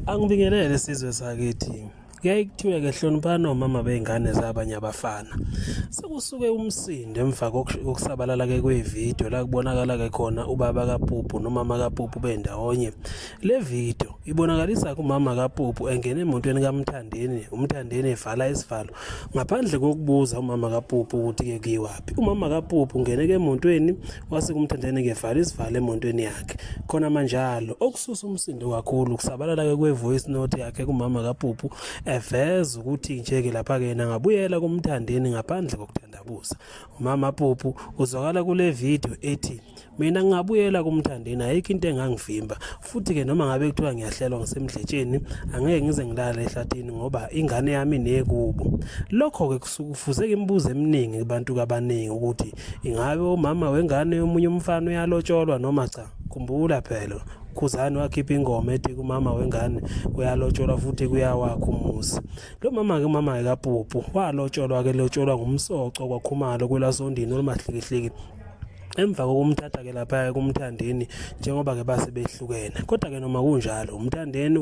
Angibingelele sizwe sakithi. Kuyaye kuthiwe ke hloniphani omama bey'ngane zabanye abafana. Sekusuke umsindo emva kokusabalala ke kwevidiyo la kubonakala ke khona ubaba kaPuphu nomama kaPuphu bendawonye. Le video ibonakalisa kumama kaPuphu engena emotweni kaMthandeni, uMthandeni evala isivalo ngaphandle kokubuza umama kaPuphu ukuthi ke kuyiwaphi. Umama kaPuphu ungene ke emotweni wase kumthandene ngevalo isivale emontweni yakhe khona manjalo okususa umsindo kakhulu kusabalala ke kwevoice note yakhe kumama kaPupu eveza ukuthi nje ke lapha ke yena ngabuyela kumthandeni ngaphandle kokuthandabuza umama Pupu uzwakala kule video ethi mina ngabuyela kumthandeni ayikho into engangivimba futhi-ke noma ngabe kuthiwa ngiyahlelwa ngisemdletsheni angeke ngize ngilale ehlathini ngoba ingane yami nekubo lokho-ke kusuke kufuze imibuzo eminingi kubantu kabaningi ukuthi ingabe umama wengane yomunye umfana uyalotsholwa noma cha khumbula phela khuzani wakhipha ingoma ethi kumama wengane kuyalotsholwa futhi kuyawakha umuzi lo mama-ke umama-ke kapupu walotsholwa-ke lotsholwa ngumsoco kwakhumalo kwelasondini olumahlikihliki emva kokumthatha ke lapha kumthandeni njengoba ke base behlukene kodwa ke noma kunjalo umthandeni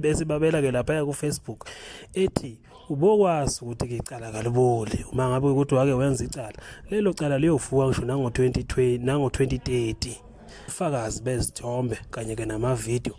esibabela ke lapha ku Facebook ethi ubokwazi ukuthi ke icala kaliboli uma ngabe ukuthi wake wenza icala lelo cala liyovuka ngisho nango 2020 nango 2030 ufakazi bezithombe kanye ke namavideo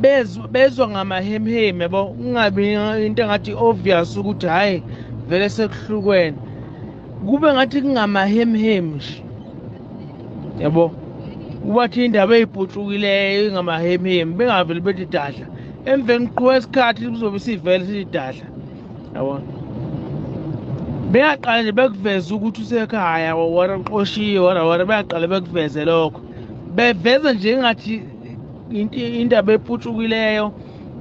bezwa bezwa ngamahemheme bo kungabi into engathi obvious ukuthi hayi vele sekuhlukene kube ngathi kungamahemheme nje yabo kubathi indaba eyibhutshukileyo ingamahemheme bengaveli bethi dadla emveni qhuba isikhathi kuzobe sivele sithi dadla yabona beyaqala nje bekuveze ukuthi usekhaya wara uqoshiwe wara wara beyaqala bekuveze lokho beveza nje engathi indaba eputshukileyo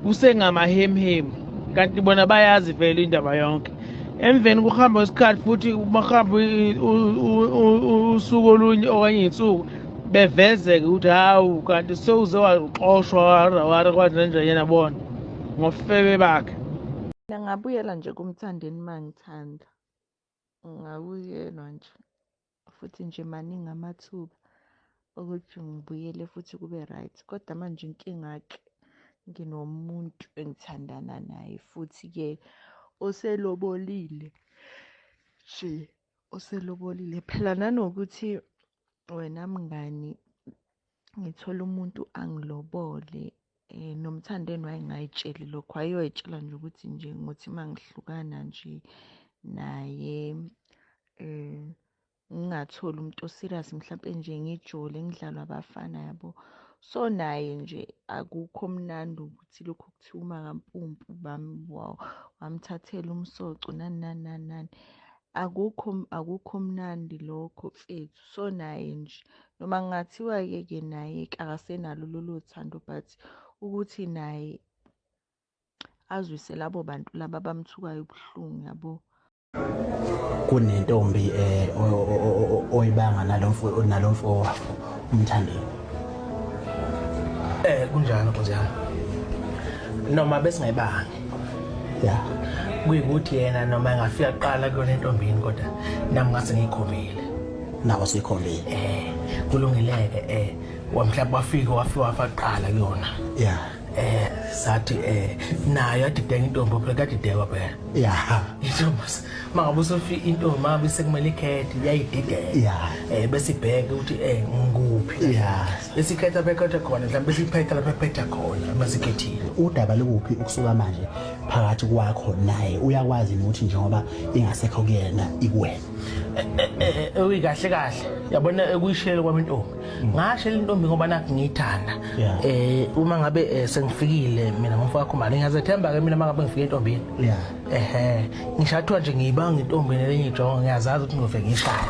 kusengamahemhemu kanti bona bayazi vele indaba yonke emveni kuhamba kwesikhathi futhi bahamba usuku olunye okanye insuku bevezeke ukuthi hawu kanti sewuze waxoshwa warawara kwathi nanjanyana bona ngofebe bakhe ngingabuyela nje kumthandeni mangithanda Ngakuyelwa nje futhi nje maningi amathuba ukuthi ngibuyele futhi kube right kodwa manje inkinga-ke nginomuntu engithandana naye futhi-ke oselobolile nje oselobolile phela nanokuthi wena mngani ngithola umuntu angilobole eh nomthandeni wayengayitsheli lokho ayoyitshela nje ukuthi nje ngothi mangihlukana nje naye eh ngingatholi umuntu oserious mhlawumbe nje ngijole ngidlalwa abafana yabo so naye nje akukho mnandi ukuthi lokhu kuthiwa umakampumpu bami wamthathela umsoco nani nani nani nani Akukho akukho mnandi lokho mfethu so naye nje noma kungathiwa ke ke naye akasenalo lolo thando but ukuthi naye azwise labo bantu laba abamthukayo ubuhlungu yabo kunentombi eh oyibanga nalomfo nalomfo wakho umthandeni eh kunjalo nkosi yami noma besingayibanga ya kuyikuthi yena noma engafika kuqala kuyona entombini kodwa nami ngase ngiyikhombile nawe suyikhombile eh kulungileke eh wamhlawumbe wafika wafika wafa kuqala kuyona ya eh sathi eh nayo adideka intombi phela kadideka phela ya intombi mangabe usofi intombi mabe sekumele ikhethi yayidideka ya eh bese ibheke ukuthi eh ngikuphi ya besikhetha bekhethe khona mhlawumbe siphetha lapho ephetha khona uma sikhethile udaba lukuphi ukusuka manje phakathi kwakho naye uyakwazi ukuthi njengoba ingasekho kuyena ikuwena eyi kahle kahle yabona ekuyishiyele kwami intombi ngashela intombi ngoba nakho ngiyithanda um uma ngabe eh, sengifikile mina ngomfo wakho mali ngiyazethemba ke mina uma ngabe ngifike entombini ehe ngishathiwa nje ngiyibanga intombini lenye ijongo ngiyazazi ukuthi ngizofike ngishaya